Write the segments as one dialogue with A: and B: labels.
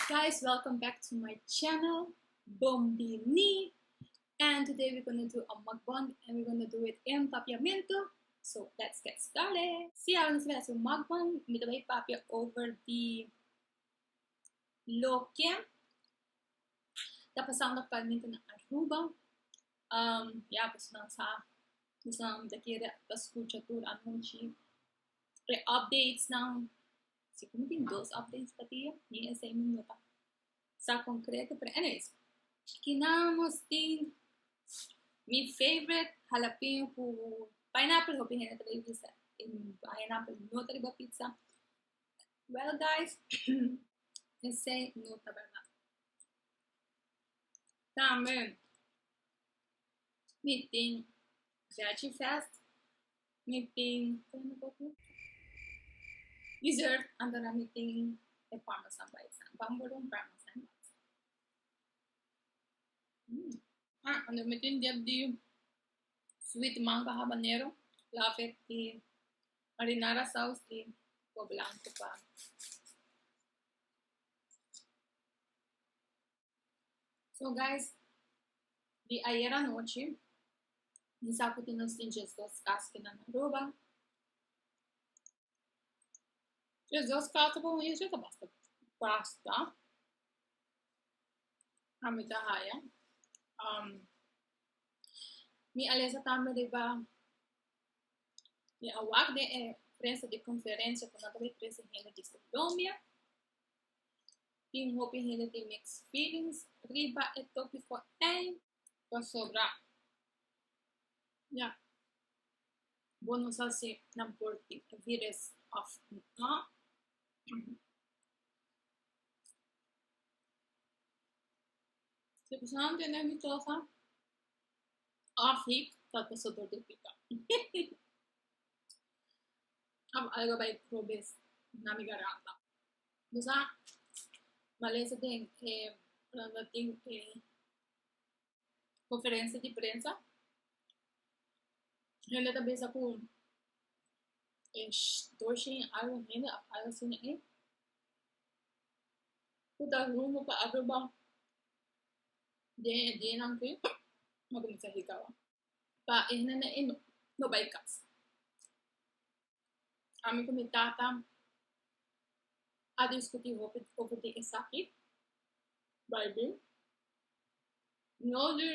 A: guys welcome back to my channel bombini and today we're gonna do a mukbang and we're gonna do it in papiamento so let's get started see how this is a mukbang me the papia over the loke tá passando atualmente na Aruba Um, ya, pues nan sa, pues nan ta kere ta scucha tur anunci. Re updates nan, si cu mi tin dos updates pa dia, mi esey mi no ta sa concreto, pero anyways, kina nos tin mi favorite halapeño cu pineapple, hopi hende ta bay bisa e pineapple no ta riba pizza, well guys, esey no ta berdad. Tambe mi tin Veggie Fest, mi tin dessert and dan mi tin e parmesan bai san, bamboedel and parmesan bai san. Ah and dan mi tin dip di sweet mango habanero later di marinara saus di po blanco pa So guys, di ayer anoche, mi sa kuti nos tin just dos kas kinan Aruba. Just dos kas pa un isla ta basta basta. Ami ta haya. Um, mi alesa tambe riba mi awak de eh, prensa de conferencia con la presidente de Colombia. tin hopi hende tin mixed feelings riba e topiko ei pasobra ya bo no sa si nan por tin e virus òf nò, si e persona no tene dòsosa òf hik ta paso dor di pika òf algu bai probe na mi garanta. Nos a malesa den e landa tin e conferencia di prensa. Hende ta bisa cu e doce y algo hende of algo asina e cu ta rumbo pa Aruba den e dianan aki lo cuminsa hika awan. Pa e hende nan e no bai cas. Ami ku mi tata a diskutí hopi over di esaki, Beibel. No di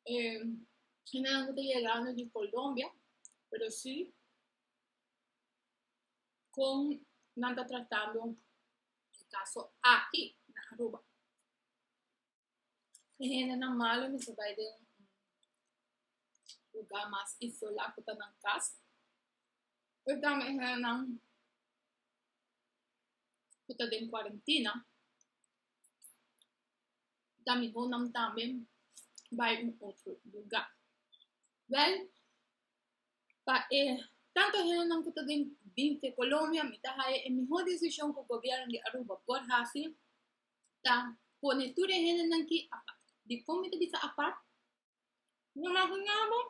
A: e hendenan ku ta yegando di Colombia, pero si kon nan ta tratando e kaso aki na Aruba. E hendenan malu mester bai den un lugá mas isolá ku ta nan kas. Pero tambe e hendenan ku ta den kuarentina, ta mihó nan tambe bai un otro lugá. Wèl, pa e tantu e hendenan ku ta den binti Colombia, mi ta haña e mihó desishon ku gobièrnu di Aruba por hasi ta pone tur e hendenan ki apart. Dikon mi ta bisa apart? Bo imaginá bo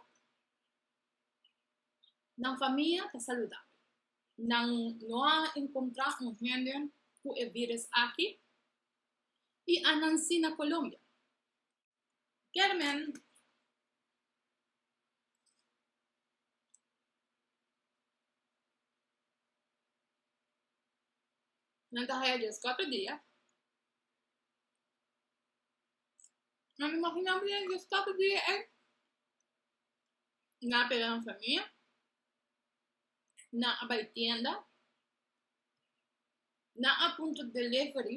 A: nan famia ta saludabel, nan no a enkontrá un hende ku e viris aki i a nansí na Colombia. Kermen. Nan ta haya djes kòt e dia. Nan imagina bo den djes kòt e dia ei nan a pega nan famia, nan a bai tienda, nan a puntra delivery.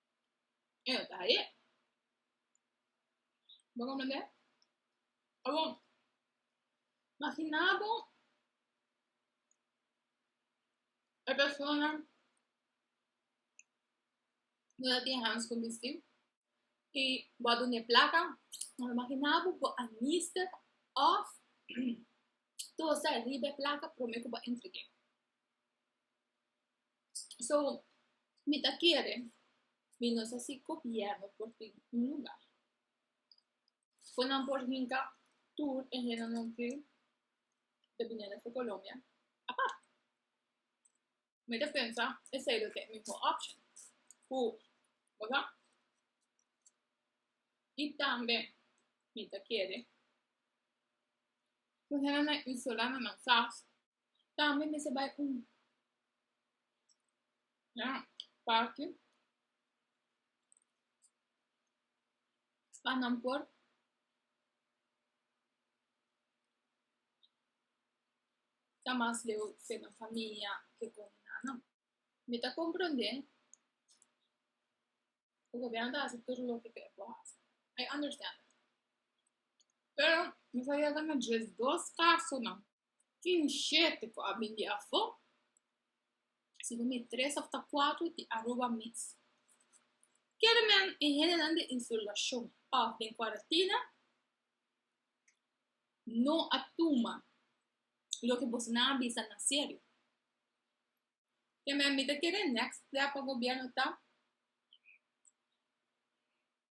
A: Eo ta e. Bo comprende? Abon, makina bo e persona no ta tin hands kon bistiu i bo a dune plaka, pero makina bo bo a mister òf tosa riba e plaka promé ku bo a entreg'é. So, mi ta kere mi nos hasi gobièrnu por tin un lugá ku nan por hinka tur e hendenan ku ta bini aleksa Colombia apart. Mi ta pensa esei lo ke e mihó option, ku bo sa. I tambe mi ta kere ku hende nan isola nan nan sas. Tambe mester bai un na parke pa nan por ta mas leu den nan famia ke kon e nannan. Mi ta komprende ku gobièrnu ta hasi tur loke ke e por hasi, I understand it, pero mi ta yega na djes dos kasonan Tin shete ku a bin di afó, si no mi tres òf ta kuater di Aruba mes. Kerenan e hendenan den Insulashon òf den Kuaratina no a tuma loke bosonan a bisa na serio. Kemen mi ta kere nèkst stèp pa gobièrnu ta.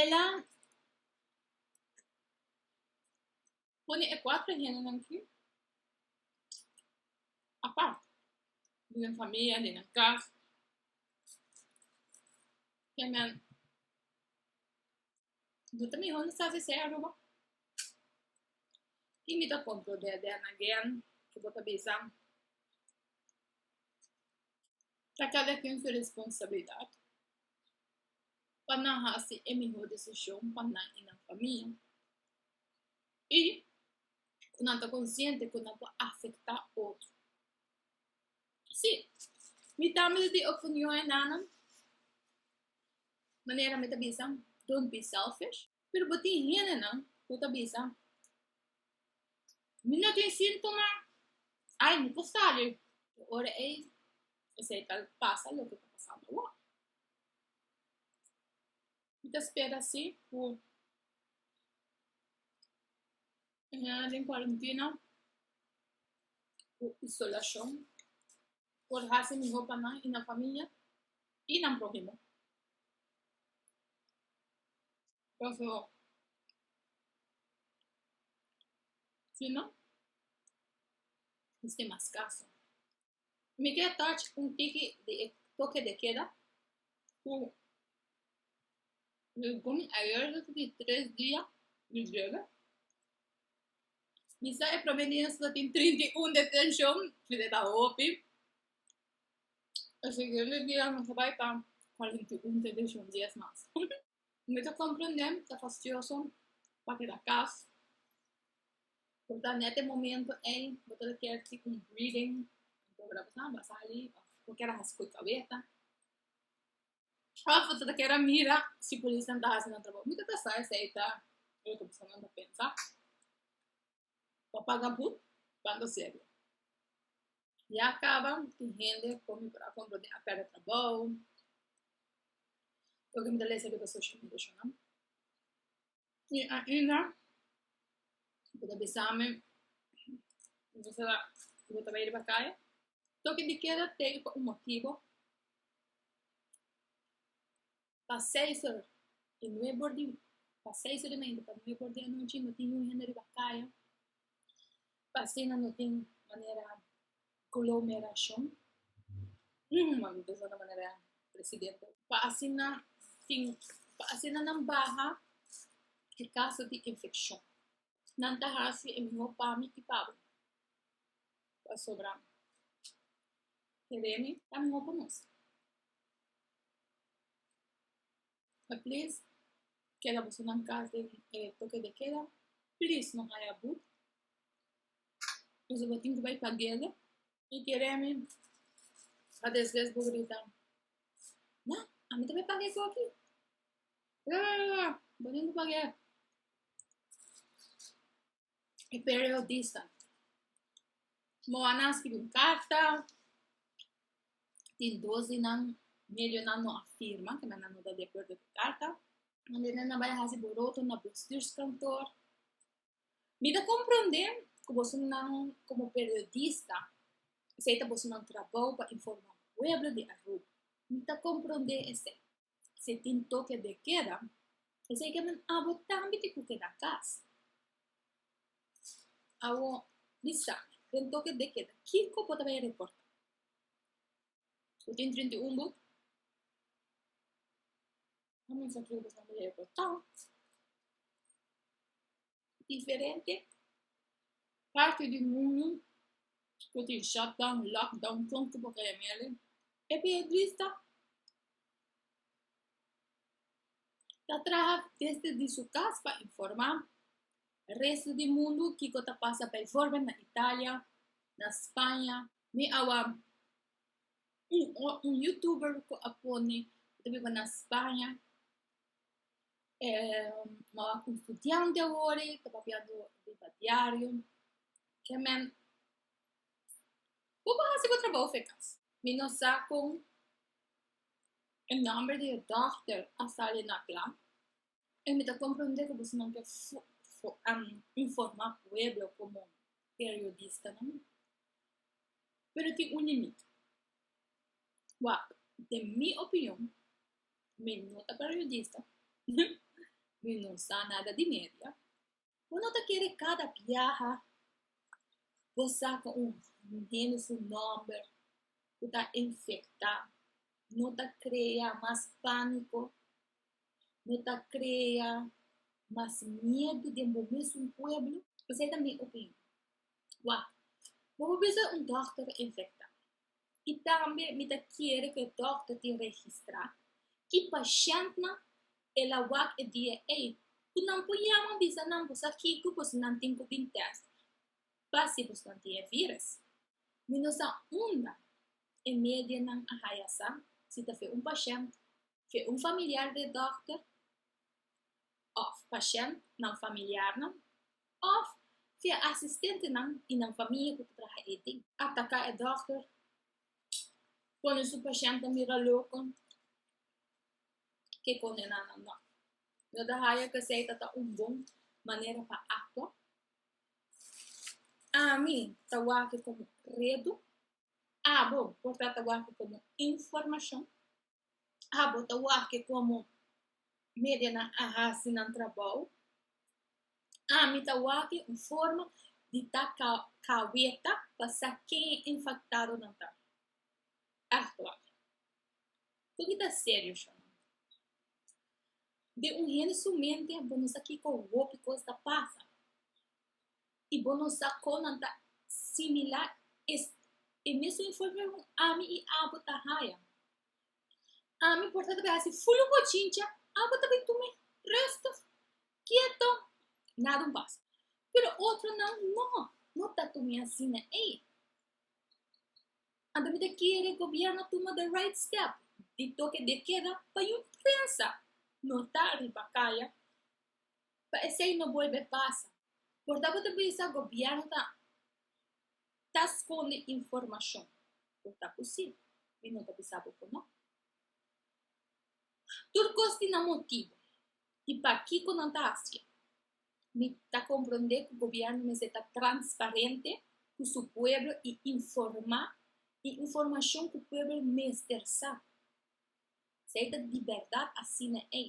A: Ela pone e kuater hendenan aki apart, den nan famia, den nan kas, den nan, no ta mihó nan sa sesey Aruba? Tin mi ta kontrol den nan gen ku bo ta bisa? ta kada ken su responsabilidat pa nan hasi e mihó desishon pa nan i nan famia, i ku nan ta konsiente ku nan por afektá otro. Sí, mi tambe ta tin e opinion e nannan, manera mi ta bisa, don't be selfish. Pero bo tin hendenan cu ta bisa, Mi no tin síntoma, ay, mi por sali. E ora ei esei ta pasa loke ta pasando awor. Mi ta spera si cu Caminda den cuarentena cu isolacion por haci miho pa nan y nan familia y nan prohimo. Paso si no, esque mas caso. Mi ke touch un tiki di e toke de keda ku mi bon ayer loke di tres dia mi drebe. Mi sa e prome dia so tin trinta i un detenshon, mi ta ta hopi. E siguiente dia mi ta bai pa kuarenta i un detenshon dies mas. Mi ta komprendé, ta fastioso pa keda kas, por ta nèt e momento ei bo ta kier tik un breathing, bo a sali, bo kier a hasi koe gabeta, òf bo ta kier a mira si polisnan ta hasi nan trabou, mi ta pensa esei ta loke bosonan ta pensa. pa paga bou banda serio ya caba tin hende con mi por a compro den a perda trabou porque mi ta lesa riba social media sho nan y ainda bo ta bisami bo ta bo ta bay riba calle toki di keda teken pa un motibo Pa seis or di nueb or di pa seis or di mainta pa nueb or di anochi no tin un hende riba kaya pa asina no tin manera glomerashon pa asina tin pa asina nan baha e kaso di infekshon. nan ta hasi e mihó pa mi i pa bo, pasobra keré mi ta mihó pa nos. E plis keda bosonan kas den e toke de keda, plis no haya but, boso lo tin ku bai pa guele Y quiere a mi a desles bo grita. Ma, a mi también pague eso aquí. Bo no pague. Y periodista. Mo a naski un carta. Tin dos di nan medio nan no afirma que nan no da de acuerdo con carta. Donde nan bay hasi boroto na bestuurskantoor. Mi ta komprondé ku bosonan komo periodista esei ta bosonan trabou pa informá pueblo di Aruba. Mi ta komprondé esei. Si e tin toke de keda, esei ke men abo tambe tin ku keda kas. Awor, mi sa den toke de keda kiko bo ta bai a reportá. Bo tin trinta i un bu. Comensa kere bo tamba e botat. Diferente parti di mundu ku tin shutdown, lockdown, kon ku bo kaya mele. E periodista ta traha desde di su kas pa informa resto di mundu kiko ta pasa, baivorbel na Italia, na Spaña. Mi awa. Un o un youtuber ku a pone e ta biba na Spaña e bo a un studiante awor e ta papiando riba diario ke men bo por hasi bo trabaho fu e kas mi no sa kon e nomber di e dòkter a sali na kla E mi ta komprondé ku bosonan ke informá pueblo komo periodistanan, pero tin un limit. Wak, den mi opinion, mi no ta periodista, mi no sa nada di media. Bo no ta kere kada biaha bo saka un hende su nòmber ku ta infektá, no ta krea mas pániko, no ta krea mas miedu den bo mesun pueblo? Esei ta mi opinion. Wak, bo por bisa un dòkter ta infektá, i tambe mi ta kere ku e dòkter tin registrá ki pashèntnan el a wak e dia ei ku nan por yama bisa nan ku sa kiko bosnan tin ku bin tèst pa si bosnan tin e vírus. Mi no sa unda e medianan a haya sa si ta fe un pashènt Ke un familiar di e dòkter òf pashènt nan familiarnan òf fe e asistentenan i nan famia ku ta traha ei tin. Ataká e dòkter, pone su pashèntnan mira loko, ke kondená nan nò. No ta haya ku esei ta ta un bon manera pa aktua. Ami ta wak e komo reto, abo por trata wak e komo informashon. ha bo ta wak-e komo medianan a hasi nan trabou? Ami ta wak-e un forma di ta kaweta pa sa ken e infaktado-nan ta. Aktual. Ku ki ta serio shon? Den un hende su mente bo no sa kiko hopi kos ta pasa. I bo no sa kon nan ta similá es e mesun informe ku ami i abo ta haya. Ami por ta ta bin hasi fulu bochincha, abo ta bin tuma resto, kieto, nada un pasa. Pero otronan no, no ta tuma asina ei. Anto mi ta kere Gobierno tuma the right step di toke de keda pa yu prensa no ta riba kaya. pa esei no bolbe pasa, por ta bo ta bisa gobièrnu ta ta skonde informashon? Por ta ku si, mi no ta bisa bo ku no. Tur kos tin nan motibu i pakiko nan ta hasié. Mi ta komprondé ku gobièrnu mester ta transparente ku su pueblo i informá e informashon ku pueblo mester sa, si ey ta di bèrdat asina ei.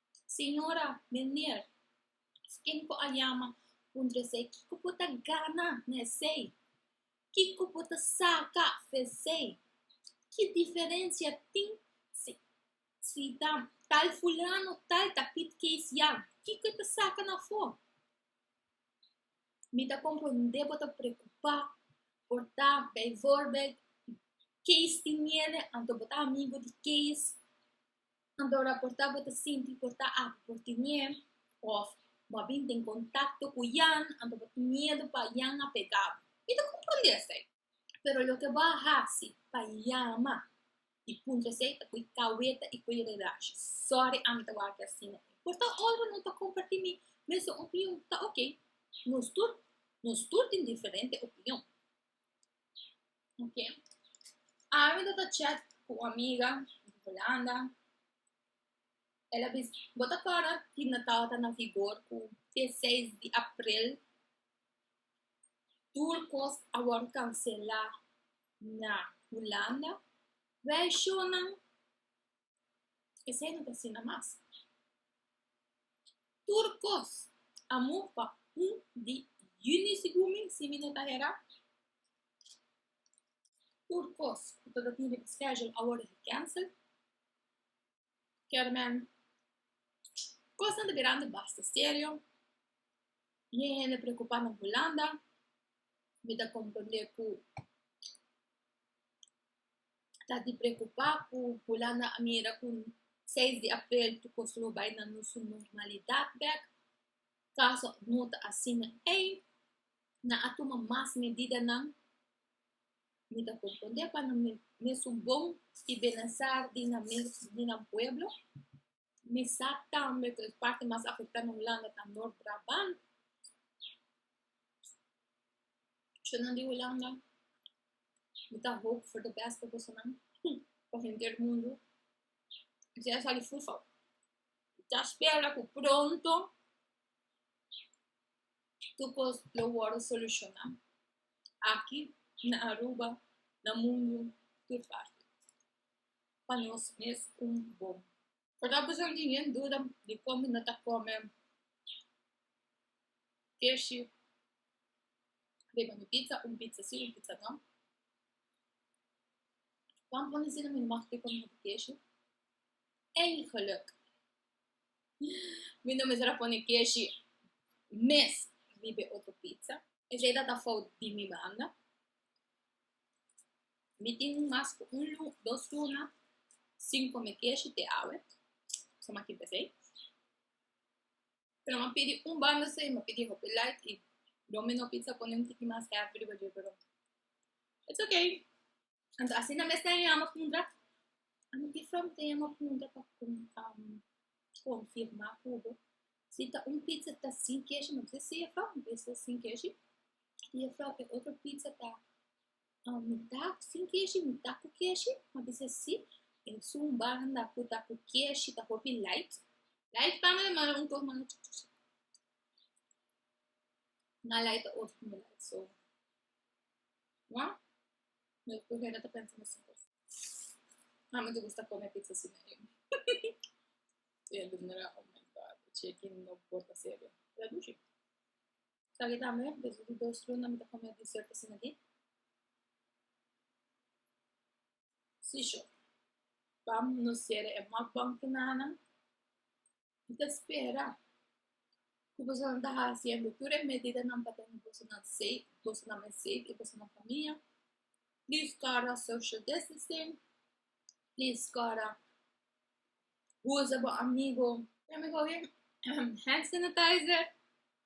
A: Señora, Meneer, sken ku a yama puntra esei, kiko ku ta gana na esei? Kiko ku ta saka fu esei? Ki diferensia tin si si ta tal fulano tal ta Piet Keisian? Kiko e ta saka na afó? Mi ta komprondé bo ta preokupá por ta beivoorbeeld Kees di Niele, anto bo ta amigu di Kees. Nan ta raportá bo ta sinti por ta aki por tin ñe òf bo a bin den kontakto ku Jan anto bo tin miedu pa Jan a pegá bo. Mi ta komprondé esei. Pero loke bo a hasi pa yama di punto esei ta koe kaweta i koe redashi. Sòri ami ta wak asina. Por ta ora no ta kompartí mi mesun opinion, ta oke. Nos tur nos tur tin diferente opinion. Okay. Awe do ta chat ku un amiga di Holanda. Ela bis, bo ta kòrda tin Natal ta na vigor ku te seis di april. Tur kos a wòrdu kanselá na Holanda. Reishonan Esei no ta asina mas. Tur kos a move pa un di Eunice y Gumi si mi no ta hera. Tur kos ku ta tin riba schedule a wòrdu gecancel. Kermen, Kosnan ta bira anto basta serio. Bien hende preokupá na Hulanda. Mi ta komprondé ku. ta di preokupá ku Hulanda a mira ku seis di aprel tur kos lo bai na su normalidat bèk. Kaso no ta asina ei, nan a tuma mas medidanan. Mi ta komprondé pa nan mesun bon i benesstar di nan pueblo. Mi sa tambe ku e parti mas afektá na Hulanda ta Noord Brabant. Shunnan di Hulanda, mi ta hoop for de bèst pa bosonan, pa henter mundu. Si a sali fufa, mi ta spera ku pronto tur kos lo wòrdu solushoná, aki na Aruba, na mundu tur parti. pa nos mes un bon. Por ta abusá algin yen duda di kon bo no ta kome keshi riba mi pitsa, un pitsa sí, un pitsa no. Wan pone asina mi mag di kon mi no ta keshi. Eigenlijk mi no mester a pone keshi mes riba e otro pitsa. Esei ta ta fout di mi banda. Mi tin mas ku un lu dos luna sin kome keshi te awe, so mi a kipia esei. Pero mi a pidi un banda esei, mi a pidi hopi lait i Domino Pizza pone un tiki mas hèvi riba dje, pero it's okay. Anto asina mes nan e yama puntra, a mi tin fronte e yama puntra pa konfirma ku bo si ta un pizza ta sin keshi, mi a bisa si e fronte, si ta sin keshi i e fronte otro pizza ta a mitá sin keshi mitá ku keshi a bisa si e sun banda ku ta ku keshi ta hopi light light tanga de mara un tur manga chik chik chik na light ta otro hende light so wa mi ku hera ta pensa mesun kos a mi ta gusta kome pizza sin e e alumera oh my god e cheki no por ta serio pero a dushi Sali ta amor, despues di dos luna mi ta come dessert asina di. Sisho, Bam no cierra e mukbang tin nana. Mi ta spera cu bosonan ta haciendo tur e medidanan pa tene bosonan safe, bosonan mi safe y bosonan famia. Please guarda social distancing, please guarda bulsa bo amigo, teme coge hand sanitizer.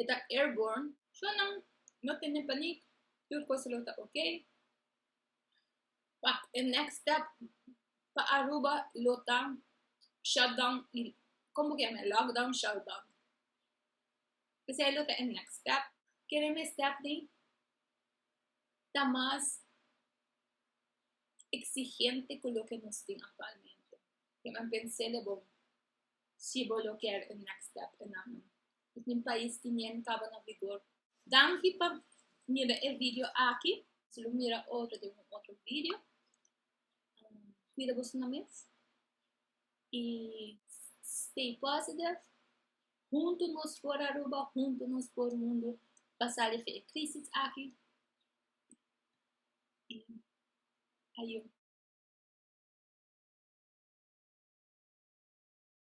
A: e ta airborne so nan no tene panik tur cosa lo ta ok pak e next step pa Aruba lo ta shut down y como ke yama lock down shut down pesey lo ta e next step kere me step den ta mas exigente cu loke nos tin actualmente kiman pensé de bo Si bo lo kier un next step en ano i tin pais ki nian kaba na vigor. Danki pa mira e video aki. Si lo mira otro den un otro video. Cuida bo esnan mes y stay positive. Hunto nos por Aruba, hunto nos por mundo pa sali for e crisis aki. Y ayo.